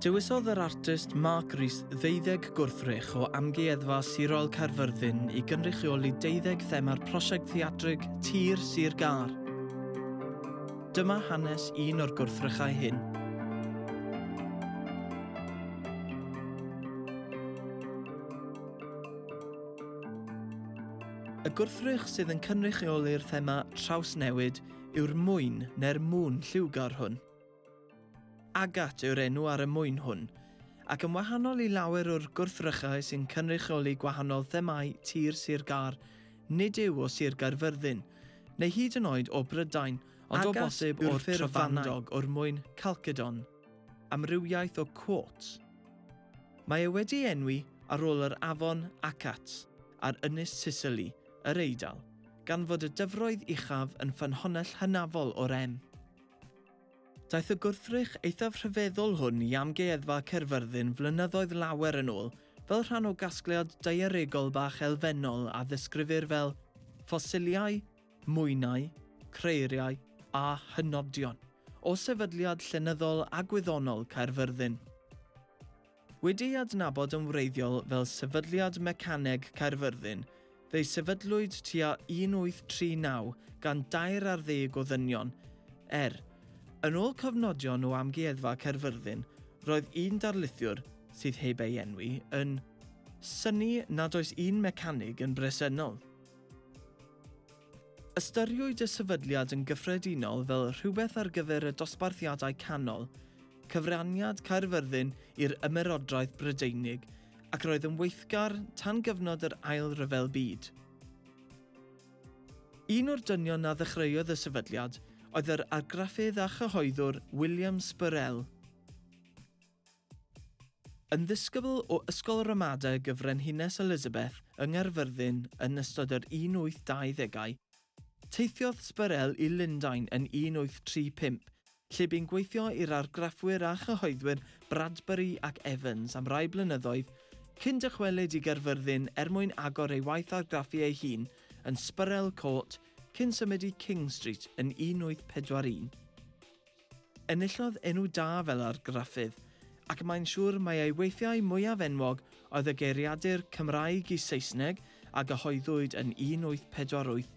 Dewisodd yr artist Mark Rees ddeuddeg gwrthrych o Amgueddfa Sirol Caerfyrddin i gynrychioli deuddeg thema'r prosiect theatrig Tir Sir Gâr. Dyma hanes un o'r gwrthrychau hyn. Y gwrthrych sydd yn cynrychioli'r thema trawsnewid yw'r mwyn neu'r mŵn lliwgar hwn. Agat yw'r enw ar y mwyn hwn, ac yn wahanol i lawer o'r gwrthrychau sy'n cynrychioli gwahanol themâu tir Sir Gâr, nid yw o Sir Gaerfyrddin, neu hyd yn oed o Brydain, ond o bosib o'r Trefandog o'r mwyn Chalcedon. Amrywiaeth o quotes. Mae e wedi ei enwi ar ôl yr afon Acat. ar ynys Sisili, yr Eidal, gan fod y dyfroedd uchaf yn ffynhonnell hynafol o rem. Daeth y gwrthrych eithaf rhyfeddol hwn i Amgueddfa Caerfyrddin flynyddoedd lawer yn ôl fel rhan o gasgliad daearegol bach elfennol a ddisgrifir fel ffosiliau, mwynau, creiriau a hynodion o sefydliad llenyddol a gwyddonol Caerfyrddin. Wedi'i adnabod yn wreiddiol fel Sefydliad Mecaneg Caerfyrddin, fe'i sefydlwyd tua 1839 gan dair ar ddeg o ddynion, er, yn ôl cofnodion o Amgueddfa Caerfyrddin, roedd un darlithiwr, sydd heb ei enwi, yn synnu nad oes un mecanig yn bresennol. Ystyriwyd y sefydliad yn gyffredinol fel rhywbeth ar gyfer y dosbarthiadau canol, cyfraniad Caerfyrddin i'r Ymerodraeth Brydeinig, ac roedd yn weithgar tan gyfnod yr Ail Ryfel Byd. Un o'r dynion a ddechreuodd y sefydliad oedd yr argraffydd a chyhoeddwr William Spurrell. Yn ddisgybl o Ysgol Ramadeg y Frenhines Elizabeth yng Nghaerfyrddin yn ystod yr 1820au, teithiodd Sbyrell i Lundain yn 1835, lle bu'n gweithio i'r argraffwyr a chyhoeddwyr Bradbury ac Evans am rai blynyddoedd, cyn dychwelyd i Gaerfyrddin er mwyn agor ei waith argraffu ei hun yn Sbyrell Court cyn symud i King Street yn 1841. Enillodd enw da fel argraffydd, ac mae'n siŵr mai ei weithiau mwyaf enwog oedd y geiriadur Cymraeg i Saesneg a gyhoeddwyd yn 1848,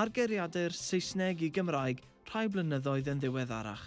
a'r geiriadur Saesneg i Gymraeg rhai blynyddoedd yn ddiweddarach.